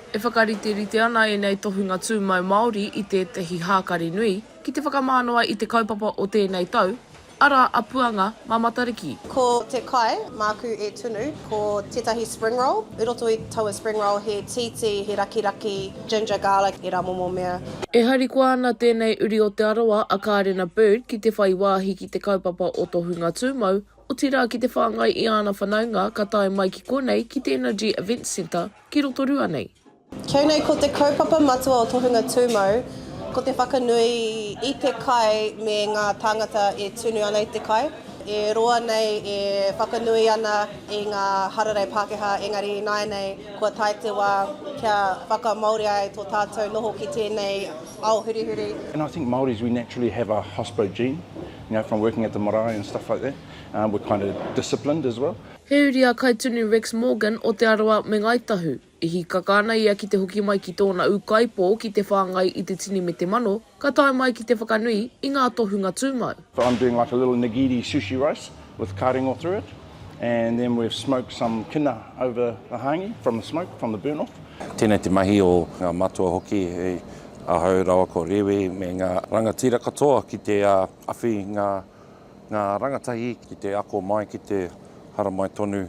E whakariterite ana ēnei tohunga tūmau Māori i tētehi hākari nui ki te whakamānawa i te kaupapa o tēnei tau, arā, a Puanga mā Matariki. Ko te kai māku e tunu, ko tētahi spring roll. I roto i taua spring roll he tītī, he rakiraki, ginger, garlic, ērā momo mea. E harikoa ana tēnei uri o Te Arawa a Kārena Bird ki te whai wāhi ki te kaupapa o Tohunga Tūmau Otirā ki te whāngai i āna whanaunga ka tae mai ki konei ki te Energy Events Centre ki Rotorua nei. Kei nei ko te kaupapa matua o Tohunga Tūmau ko te whakanui i te kai me ngā tāngata e tunu ana i te kai. E roa nei e whakanui ana i ngā hararei Pākehā engari ināianei kua tae te wā kia whakamāori ai tō tātou noho ki tēnei ao hurihuri. And I think Māoris we naturally have a hospo gene. You know, from working at the marae and stuff like that, we're kind of disciplined as well. He uri a Kaitunu Rex Morgan o Te Arawa me Ngāi Tahu. I hīkaka ana ia ki te hoki mai ki tōna ūkaipō ki te whāngai i te tini me te mano, ka tae mai ki te whakanui i ngā tohunga tūmau. I'm doing like a little nigiri sushi rice with ka ringo through it. and then we've smoked some kina over the hangi from the smoke, from the burn off. Tēnei te mahi o ngā matua hoki, hei ahau rawa ko Rewi me ngā rangatira katoa ki te awhi ngā, ngā rangatahi ki te ako mai, ki te haramai tonu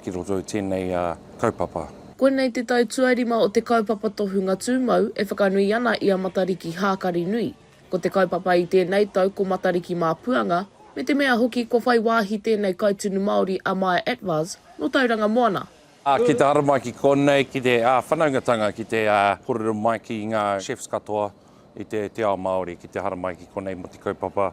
ki roto i tēnei kaupapa. Koinei te tau tuarima o te kaupapa tohunga tūmau e whakanui ana i a Matariki hākari nui. Ko te kaupapa i tēnei tau ko Matariki mā Puanga, me te mea hoki kua whai wāhi tēnei kaitunu Māori a Maya Atwaz nō Tauranga Moana. Ki te haramai ki konei, ki te whanaungatanga, ki te kōrero mai ki ngā chefs katoa i te ao Māori, ki te haramai ki konei mō te kaupapa.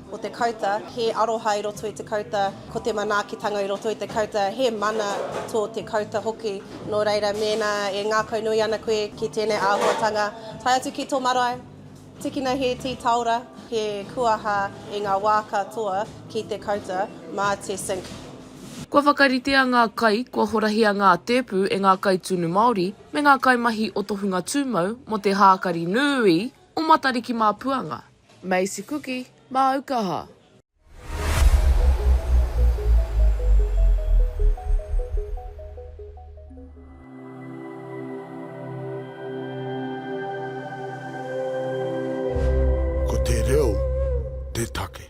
Ko te kauta, he aroha i roto i te kauta, ko te manaakitanga i roto i te kauta, he mana tō te kauta hoki. Nō reira, mēnā e ngākaunui ana koe ki tēnei āhuatanga, tae atu ki tō marae, tikina he tītaora, he kuaha i ngā wā katoa ki te kauta mā te sink. Kua whakaritea ngā kai, kua horahia ngā tēpu e ngā kai tunu Māori me ngā kaimahi o to hunga tūmau mō te hākari nūī o Matariki Māpuanga. Macy Kuki, māu kaha. Ko te reo te take.